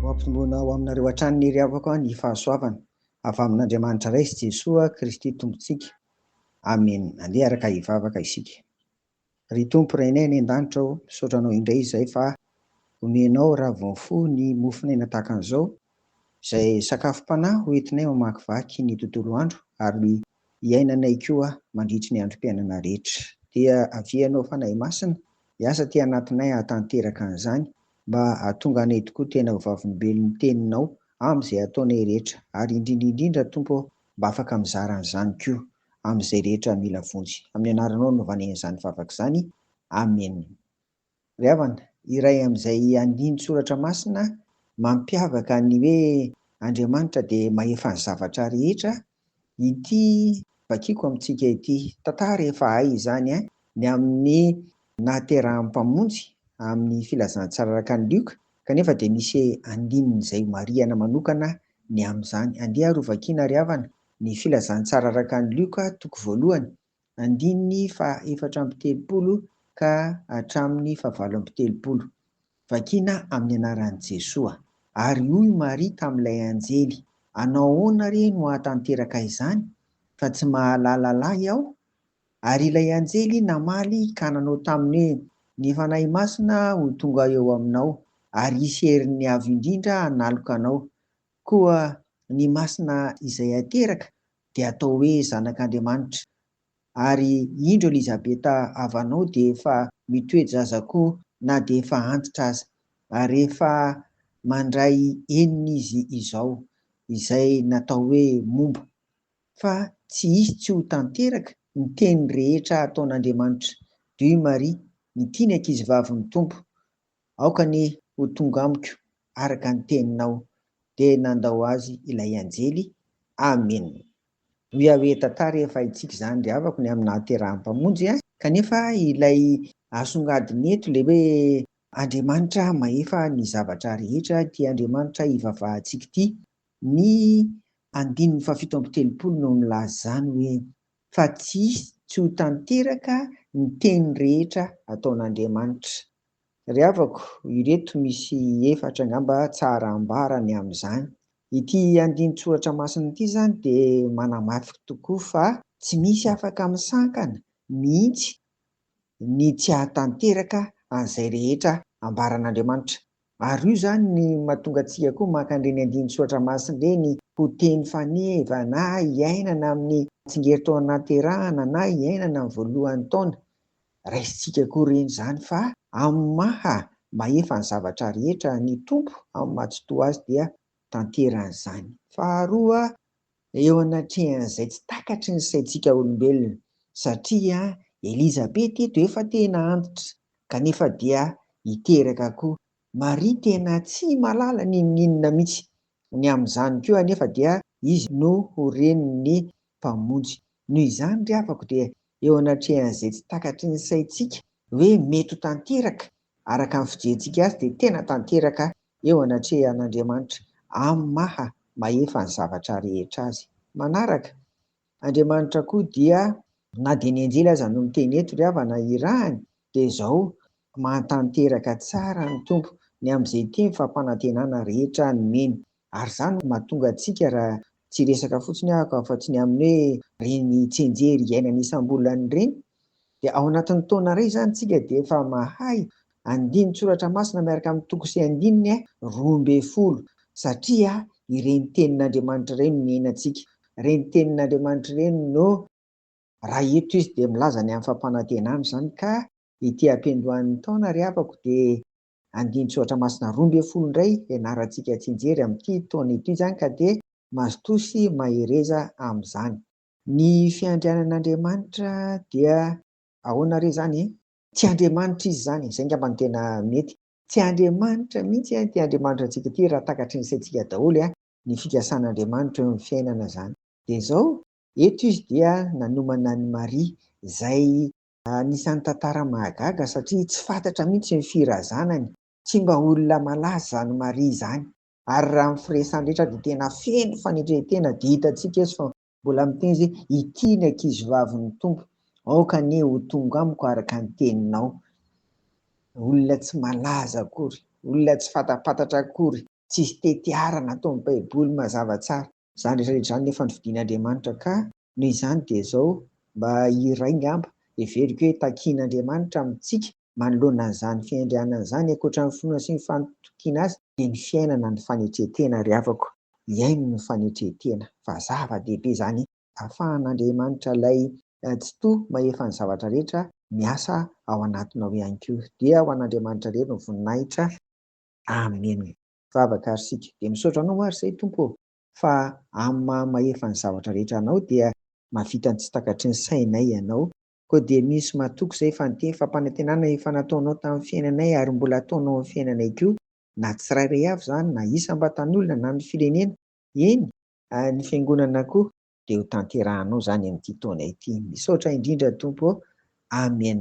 Mampitongona ho aminareo hatrany ny iriavako ny fahasoavana avy amin'Andriamanitra Ray sy Jesoa Kristy Tompontsika. Amena. Andeha araka hivavaka isika. Ry Tompo Rainay any an-danitra ô, misaotra Anao indray izay fa omenao raha vao mifoha ny mofon'aina tahaka an'izao, izay sakafom-panahy ho entinay mamakivaky ny tontolo andro ary iainanay koa mandritry ny androm-piainana rehetra. Dia avia Ianao Fanahy Masina, hiasa aty anatinay hahatanteraka an'izany, mba hahatonga anay tokoa tena ho vavolombelon'ny Teninao amin'izay ataonay rehetra, ary indrindra indrindra, Tompo ô, mba afaka mizara an'izany koa amin'izay rehetra mila vonjy. Amin'ny Anaranao no vanenan'izany vavaka izany. Amena. Ry havana, iray amin'izay andiany soratra masina mampiavaka ny hoe Andriamanitra dia mahefa ny zavatra rehetra ity vakiako amintsika ity. Tantara efa hay izany ny amin'ny nahaterahan'ny Mpamonjy amin'ny Filazantsara araka an'i Lioka, kanefa dia misy andininy izay marihana manokana ny amin'izany. Andeha ary hovakiana ry havana ny Filazantsara araka an'i Lioka, toko voalohany, andininy fahaefatra amby telopolo ka hatramin'ny fahavalo amby telopolo, vakina amin'ny anaran'i Jesoa. Ary hoy Maria tamin'ilay anjely, Anao ahoana re no hahatanteraka izany, fa tsy mahalala lahy aho? Ary ilay anjely namaly ka nanao taminy hoe, Ny Fanahy Masina ho tonga eo aminao, ary hisy herin'ny Avo Indrindra hanaloka anao. Koa ny masina izay hateraka dia atao hoe zanak'Andriamanitra, ary indro Elizabeta havanao dia efa mitoe-jaza koa na dia efa antitra aza, ary efa mandray enina izy izao, izay natao hoe momba, fa tsy hisy tsy ho tanteraka ny teny rehetra ataon'Andriamanitra, Dû Marie, ny tiany ankizivavin'ny Tompo, Aoka anie ho tonga amiko araka ny teninao. Dia nandao azy ilay anjely. Amen. Hoy aho hoe, Tantara efa haintsika izany ry havako ny amin'ny nahaterahan'ny Mpamonjy ahy. Kanefa ilay asongadina eto ilay hoe, Andriamanitra mahefa ny zavatra rehetra ity Andriamanitra ivavahantsika ity. Ny andininy fahafito amby telopolo no milaza izany hoe, fa tsy hisy tsy ho tanteraka ny teny rehetra ataon'Andriamanitra. Ry havako, ireto misy efatra angamba tsara ambara ny amin'izany. Ity andinin-tsoratra masina ity izany dia manamafy tokoa fa tsy misy afaka misankana mihitsy ny tsy hahatanteraka an'izay rehetra ambaran'Andriamanitra. Ary io izany ny mahatonga antsika koa maka an'ireny andinin-tsoratra masina ireny ho teny faneva na iainana amin'ny tsingerin-taona nahaterahana na iainana ny voalohan'ny taona. Raisintsika koa ireny izany fa amin'ny maha mahefa ny zavatra rehetra ny Tompo amin'ny maha-tsitoha Azy dia tanterany izany. Faharoa, Eo anatrehan'izay tsy takatry ny saintsika olombelona, satria Elizabeth eto efa tena antitra, kanefa dia hiteraka koa. Maria tena tsy malala n'inon'inona mihitsy. Ny amin'izany koa anefa dia izy no ho renin'ny Mpamonjy. Noho izany ry havako dia eo anatrehan'izay tsy takatry ny saintsika hoe mety ho tanteraka Araka ny fijerentsika azy dia tena tanteraka eo anatrehan'Andriamanitra amin'ny maha mahefa ny zavatra rehetra azy. Manaraka, Andriamanitra koa dia, na dia ny anjely aza no miteny eto ry havana irahany, dia izao, Mahatanteraka tsara ny Tompo ny amin'izay teny fampanantenana rehetra nomeny. Ary izany no mahatonga antsika raha tsy hiresaka fotsiny aho afa tsy ny amin'ny hoe ireny tsianjery iainana isam-bolana ireny dia ao anatin'ny taona iray izany isika dia efa mahay andinin-tsoratra masina miaraka amin'ny toko sy andininy roa ambin'ny folo satria ireny tenin'Andriamanitra ireny no niainantsika, ireny tenin'Andriamanitra ireny no. Raha eto izy dia milaza ny amin'ny fampanantenana izany ka ity ampiandohan'ny taona ry havako dia. Andinin-tsoratra masina roa ambin'ny folo indray hianarantsika tsy hijery amin'ity taona ity izany ka dia mazotoa sy mahereza amin'izany. Ny fiandrianan'Andriamanitra dia ahoana re izany? Tsy Andriamanitra Izy izany, izay angamba no tena mety. Tsy Andriamanitra mihitsy ity Andriamanitra antsika ity raha takatry ny saintsika daholo ny fikasan'Andriamanitra eo amin'ny fiainana izany. Dia izao, eto Izy dia nanomana an'i Maria, izay Anisan'ny tantara mahagaga satria tsy fantatra mihitsy ny firazanany, tsy mba olona malaza izany Maria izany, ary raha ny firesany rehetra dia tena feno fanetren-tena dia hitantsika eto fa mbola miteny izy hoe ity ny ankizivavin'ny Tompo, aoka anie ho tonga amiko araka ny teninao. Olona tsy malaza akory, olona tsy fantampantatra akory, tsisy tetiara nataon'ny baiboly mazava tsara. Izany rehetra rehetra izany nefa novidian' Andriamanitra ka. Noho izany dia izao mba iray ngamba heveriko hoe takian' Andriamanitra amintsika manoloana an'izany fiandrianana izany ankoatra ny finoana sy ny fantokiana Azy dia ny fiainana ny fanetren-tena ry havako. Hiaino ny fanetren-tena fa zava-dehibe izany ahafahan' Andriamanitra ilay Tsitoha mahefa ny zavatra rehetra miasa ao anatinao ihany koa. Dia ho an' Andriamanitra irery ny voninahitra. Amena. Vavaka ary sika dia misaotra anao ary zay Tompo ô fa amin'ny maha mahefa ny zavatra rehetra anao dia mahavita ny tsy takatry ny sainay ianao koa dia misy matoky zay fa niteny fampanantenana efa nataonao tamin'ny fiainanay ary mbola ataonao amin'ny fiainanay koa na tsirairay avy zany na isam-batan'olona na ny firenena eny ary ny fiangonana koa dia ho tanterahanao zany amin'ity taona ity misaotra indrindra Tompo ô Amen.